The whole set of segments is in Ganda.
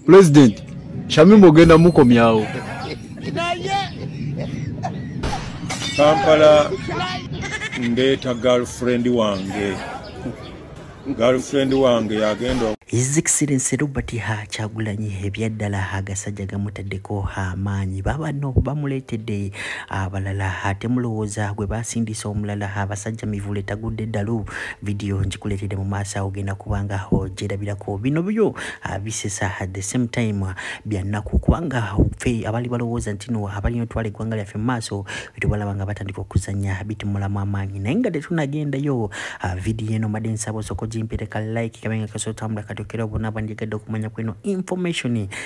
president shamimu ogenda mukomyawo kampala ndeeta girlfriend wange girlfriend wange yagenda His Excellency Robert Ha Kyagulanyi ebyaddala agasajja gamutaddeko amaanyi babanno bamuleetedde abalala ate mulowooza gwe baasindiisa omulala abasajja mivule tagudde ddalu video njikuletede mu maaso awo genda kubanga ojerabirako bino byo ah, bisesa at the same time ah, byannaku kubanga fe abali balowooza nti no abalina otwala eggwanga lyaffe mu maaso bitubalaba nga batandika okuzanya bitumulamu amaanyi naye nga tetunagendayo ah, video eno made nsaba osoko gimpireka like kabenga kasootambula katokera obona bandigadde okumanya kweno information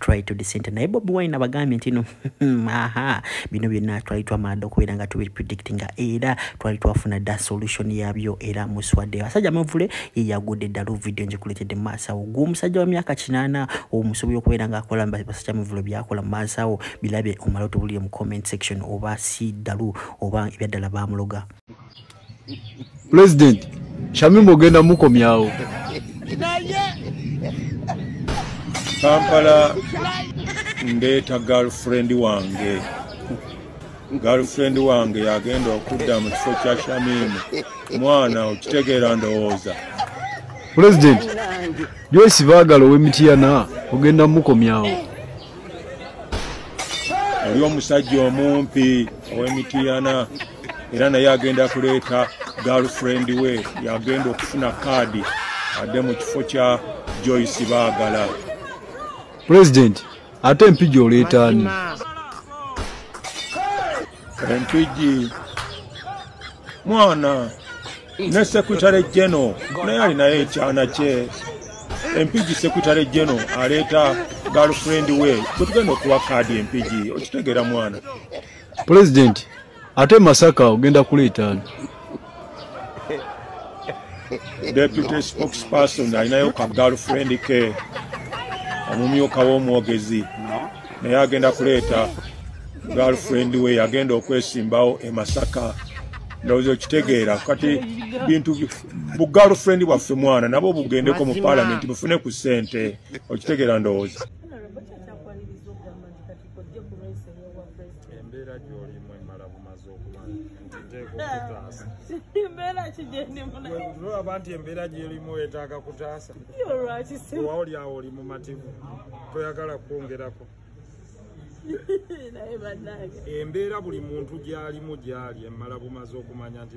try to decenter naye bobi wine abagambye nti no aha bino byonna twali twamala okubeera nga tubi predict nga era twali twafuna da solution yabyo era muswadde abasajja amavule yeyagudde ddalu video njikuletedde maasawo gwe omusajja wa myaka kinaana omusobi okubeera nga akola basajja amavule byakola maasawo bilabe omala otubulire mu comment section oba si ddalu oba ebyaddala bamuloga pulezidenti shamimu ogenda mukomyawo kampala ndeeta girlfriend wange girlfriend wange yagenda okudda mu kifo kya shamimu mwana okitegeera ndowooza pulezidenti joyce baagala ow'emityana ogenda mukomyawo oli omusajja omumpi ow'emitiyana era naye agenda kuleeta girlfriend we yagenda okufuna kaadi adde mu kifo kya joyce baagala pulezidenti ate empija oleetaani entwigi mwana ne sekutale jeno naye alinayo ekyana kye empigi sekutale jeno aleeta galfriend we bwetugenda okuwa kaadi empigi okitegeera mwana pulezidenti ate masaka ogenda kuleetaani deputy spokesperson alinayo ka girlfriend ke omumyuka w'omwogezi naye agenda kuleeta girlfriend we yagenda okwesimbawo e masaka ndowooza okitegeera kati bintu bu girlfriend bwaffe mwana nabo bugendeko mu palamenti bufune ku ssente okitegeera ndowooza embeera kigendimunolaba nti embeera gyerimu etaaga kutaasa owa oli awo oli mumativu toyagala kwongerako embeera buli muntu gyalimu gyali emmala bumaze okumanya nti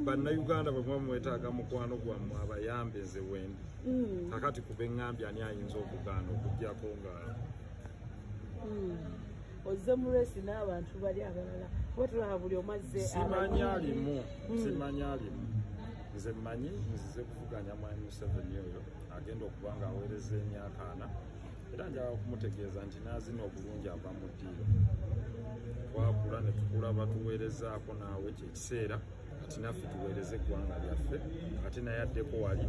bannayuganda bwe muba mwetaaga mukwano gwammwe abayambe nze wendi mm. kakati kuba eŋŋambye ani ayinza okugaana okugyako nga mm. ozze mu resi n'abantu bali abalala kuba tulaba buli omazze simanyi alimu hmm. simanyi alimu nze mmanyi nzize kuvuganya mwami museveni oyo agenda okuba nga aweereza emyaka ana era njala okumutegeeza nti naazina obulungi ava mu ddiiro twakula ne tukula batuweerezaako naawe kyekiseera kati naffe tuweereze eggwanga lyaffe ate naye addeko wali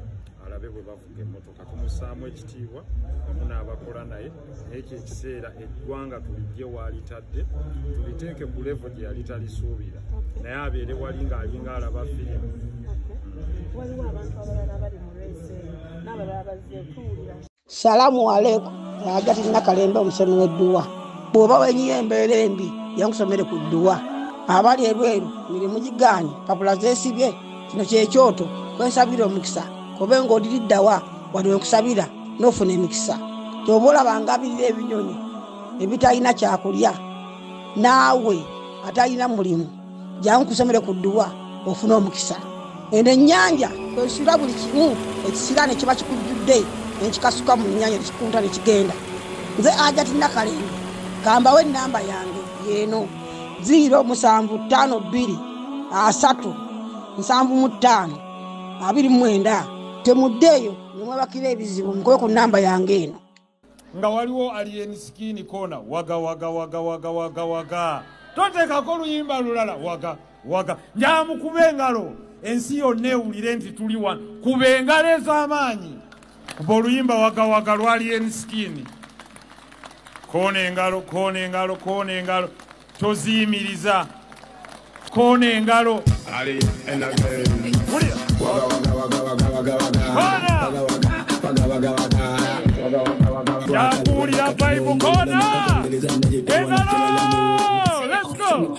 alabe bwe bavuga emmotoka tumusaamu ekitiibwa wamu n'abakola naye naye kyekiseera eggwanga tulijje waalitadde tuliteeke ku levo gye yali talisuubira naye abeere wali ng'alinga alaba firimu waliwo abantu abalala bali mu rese n'abalala bazze tuwulira salamu aleku agati nakalembe omusomi wedduwa bwoba wenyiyo embeera embi yankusomere ku dduwa abali ebweru mirimu gigaanyi papula zesibye kino kyekyoto kwensabira omukisa kobe nga odiriddawa wali wenkusabira nofuna emikisa kyoba olaba ngabirira ebinyonyi ebitalina kyakulya naawe atalina mulimu jangu kusomere ku dduwa ofuna omukisa eno ennyanja kwesula buli kimu ekisira ne kiba kikujjudde nekikasuka mu nnyanja nekikunta ne kigenda nze ajati nakalembe kambawo ennamba yange yeeno ziiro musanvu ttaano bbiri asatu nsanvu mu ttaano abiri mu mwenda temuddeeyo nemwebakira ebizibu mukube ku nnamba yange eno nga waliwo alien skin kona waga waga waga waga waga waga toteekako oluyimba lulala waga waga njamukuba engalo ensi yonna ewulire nti tuli wano kuba engalo ez'amaanyi kuba oluyimba waga waga lwa alien skin kona engalo kona engalo kona engalo toziyimiriza koona engalo yakuwulira vibe koona engalo let's go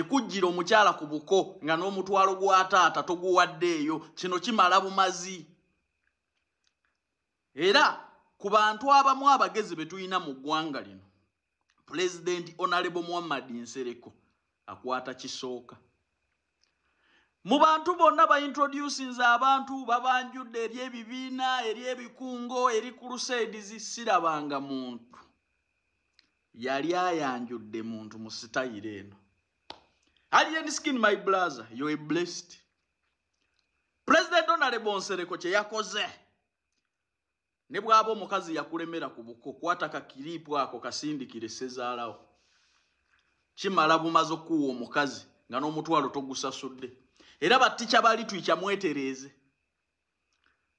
ekujjira omukyala ku buko nga n'omutwalo gwa taata toguwaddeeyo kino kimala bumazi era ku bantu abamu abagezi be tulina mu ggwanga lino pulezidenti onalebo muhammad nsereko akwata kisooka mu bantu bonna baintroducinze abantu babanjudde eri ebibiina eri ebikungo eri crusades sirabanga muntu yali ayanjudde muntu mu sitayiro eno alien skin my blazer yo e blessed president donald bonsereko kye yakoze ne bwaba omukazi yakulemera ku buko kwata ka kiriipu ako kasindikire sezaalawo kimala bumaze okukuwa omukazi nga n'omutwalo togusasudde era battica balitwikya mwetereeze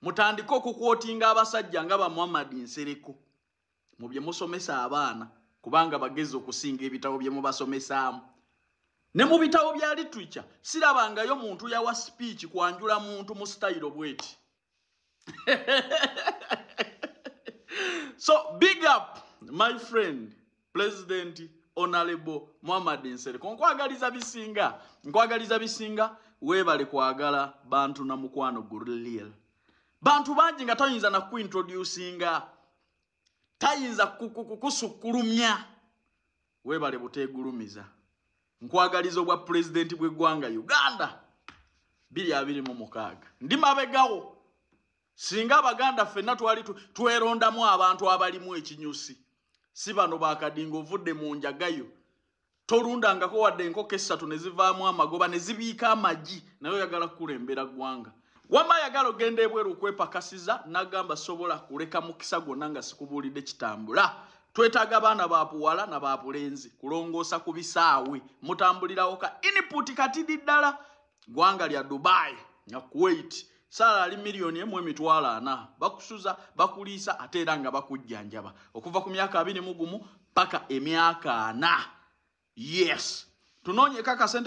mutandike okukwotinga abasajja nga bamuhamadi nsereko mu bye musomesa abaana kubanga bagezi okusinga ebitabo bye mubasomesaamu ne mu bitabo bya litwica sirabangayo muntu yawa sipiiki kwanjula muntu mu sitayiro bweti so big up my friend president onalebo muhammad nsereko nkwagaliza bisinga nkwagaliza bisinga webale kwagala bantu na mukwano gurliel bantu bangi nga tayinza nakuintroducinga tayinza kukusukkulumya Webale butegulumiza. Nkwagaliza obwa president bwe gwanga Uganda. Bili abili mu mukaga. Ndi mabegawo. Singa abaganda fenna twali tweronda mu abantu abali mu ekinyusi. Siba no bakadingo vude mu njagayo. Torunda ngako wade nko kesa tunezivaa mu amagoba nezibiika amaji. Na yoyagala kule mbera gwanga. wama ayagala ogenda ebweru okwepakasiza nagamba sobola kuleka mukisa gwonna nga sikubuulidde kitambula twetaaga abaana babuwala na babulenzi kulongoosa ku bisaawe mutambulirawo ka input katidi ddala gwanga lya dubai na kuwait saala ali miliyoni emu emitwalo ana bakusuza bakuliisa ate era nga bakujjanjaba okuva ku myaka abiri mugumu paka emyaka ana yes tunoonyeko akasente